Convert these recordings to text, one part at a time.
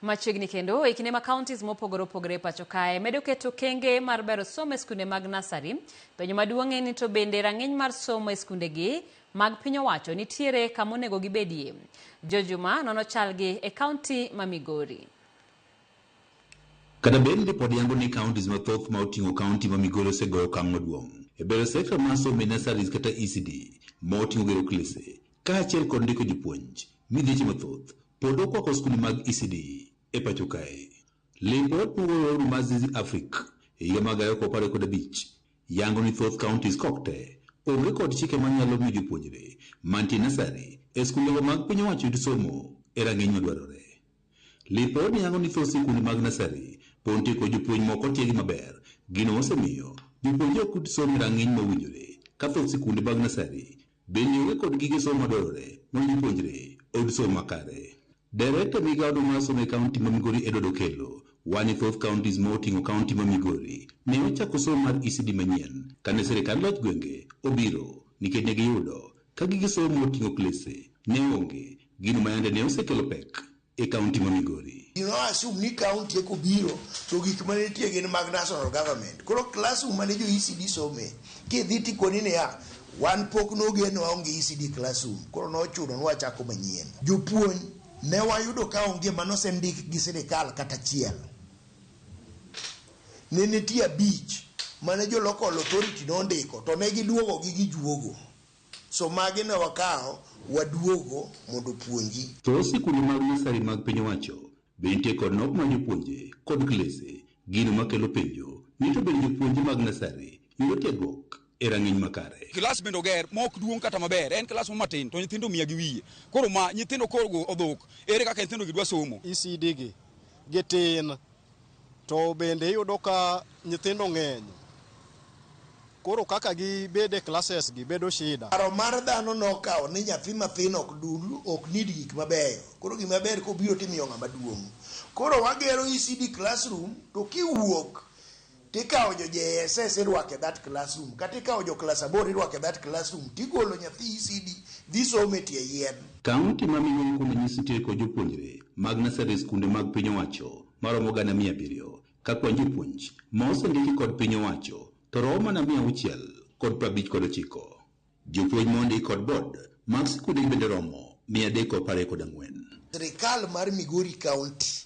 Machiegni kendo e kinde ma counties mopogore opogore e pacho kae medo keto okenge mar bero somo e skunde mag nasari, penjo maduong' en ni to bende rang'iny mar somo e skundegi mag piny owacho nitiere kama onego gibedie? Joe Juma nono chalgi e kaunti ma Migori. Kata bed ni pod yango ni counties mathoth ma oting'o county ma Migori osegoyo okang' maduong' e bero sector mar somo e nurseries kata ECD ma oting'o gero klese kaachiel kod ndiko jopuonj, midhieche mathoth pod okwako skunde mag ECD e pacho kae. Lipot mogoornu mar Zizi Africa e higa mar gariyo kod apar gi kod abich yango ni thoth counties kaok te onge kod chike manyalo miyo jopuonjre mantie nursery e skundego mag piny owacho yud somo e rang'iny madwarore. Lipod yango ni thoth sikunde mag nasari pon tieko jopuonj mok otiegi maber. Gino osemiyo jopuonjre ok yud somo e ranginy ma owinjore ka thoth sikunde mag nasari bende onge kod gige somo madwarore mondo jopuonjre oyud somo makare. Director e migao no mar somo e county ma Migori Edward Okello wa ni thoth counties ma otingo county ma Migori ne ochako somo mar ECD manyien kane sirikand loch gwenge obiro nikech ne giyudo Ka gige somo moting'o klese ne onge, gino ma yande ne osekelo pek e kaunti ma Migori. Ji no assume ni kaunti eka obiro to gik mane nitie gin mag national government. Koro classroom mane jo ECD some, kidhi to ikoni niya, wan pok nogen waonge ECD classroom. Koro nochuno ni wachako manyien. Jopuonj ne wayudo ka onge mane osendik gi sirkal kata achiel. ne nitie abich mane jo local authority nondiko to ne giduogo gi gijuogo so magi ne wakawo waduogo mondo opuonji. To sikunde mag nursery mag piny owacho be nitie kod nok mar jopuonje kod klese, gino makelo penjo ni to bende jopuonje mag nursery Miyo tiegruok e rang'iny makare. Klas bende oger ma ok duong' kata maber, en klas moro matin to nyithindo mia gi wiye. Koro ma nyithindo koro odhok, ere kaka nyithindogi dwa somo? ECD gi gitin to bende iyudo ka nyithindo ng'eny koro kaka gibed e classes gi bedo shida. Paro mar dhano nokawo ni nyathi mathin ok dul, ok need gik mabeyo. Koro gima ber kobiro timiyo ng'ama duong'. Koro wagero ECD classroom to kiwuok, Tikawo jo JSS irwako e that classroom, kata ikawo jo klas aboro irwako e that classroom, tigolo nyathi ECD dhi somo e tie yien. Kaunti ma Miyo Ikuno nyiso tieko jopuonjre mag nursery e skunde mag piny owacho maromo gana mia abiriyo, ka kwan jopuonj ma osendiki kod piny owacho to romo mana mia auchiel kod prabich kod ochiko. Jopuonj mondi kod board mag sikunde bende romo mia adek apar kod ang'wen. Sirkal mar Migori County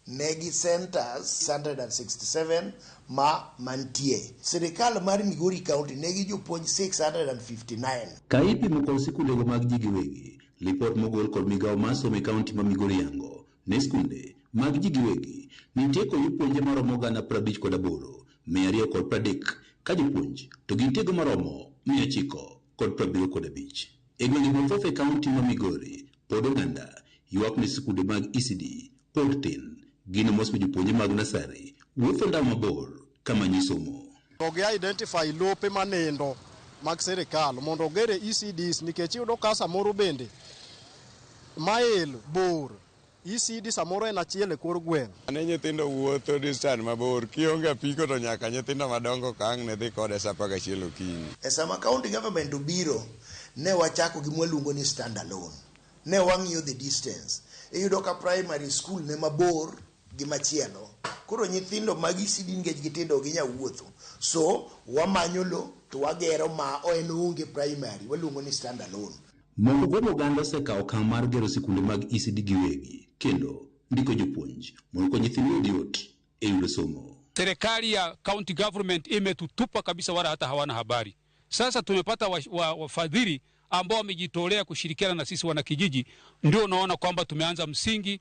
negi centers 667 ma mantie. Sirkal mar Migori County negi jopuonj 659. Ka ipimo kod sikundego mag ji giwegi, lipot mogol kod migao mar somo e county ma Migori yango Ne skunde mag ji giwegi, nitie kod jopuonje maromo gana prabich kod aboro, mia ariyo kod pradek ka jopuonj to gintiego maromo mia ochiko kod prabiriyo kod abich. E gwenge mathoth e kaunti ma Migori, pod oganda ywak ni skunde mag ECD pod tin. Gino mosewe jopuonje mag nasari wuotho ndao mabor kama nyiso mo. To gi identify lope ma nindo mag sirikal mondo ogere ECDs nikech iyudo ka samoro bende mail bor ECD samoro en achiel e kor gweng'. Ne nyithindo wuotho distan mabor, kionge apiko to nyaka nyithindo madongo kang' ne dhi kode sa apar gachiel okinyi. E sama county government obiro, ne wachako gi mwaluongo ni stand alone. Ne wang'iyo the distance. Iyudo ka primary school ne mabor. gi machielo koro nyithindo magi sidi nikech gitindo ok ginyal wuotho so wamanyo lo to wagero ma en onge primary waluongo ni stand alone. Moko kuom oganda osekawo okang' mar gero sikunde mag ECD giwegi kendo ndiko jopuonj mondo okony nyithindgi oyud yot e yudo somo. Serikali ya county government imetutupa kabisa, wala hata hawana habari. Sasa tumepata wafadhili wa, wa ambao wamejitolea kushirikiana na sisi wanakijiji, ndio unaona kwamba tumeanza msingi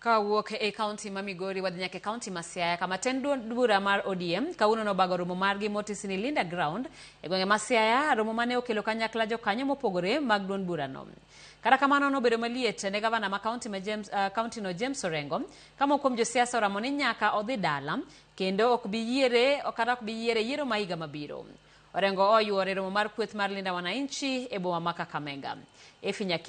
Ka wawuok e kaunti ma Migori wadhi nyaka e kaunti ma Siaya kama tend duond bura mar ODM kawuono nobago romo margi motisi ni Linda Ground e gwenge ma Siaya, romo mane okelo kanyakla jokanyo mopogore mag duond burano. Kata kamano nobedo maliet ne gavana ma kaunti ma James, uh, kaunti no James Orengo ka moko kuom josiasa oramo ni nyaka odhi dala kendo ok bi yiere kata ok bi yiere yiero ma higa mabiro. Orengo oyuore romo mar kweth mar Linda Wananchi e boma ma Kakamega. Efi Nyaki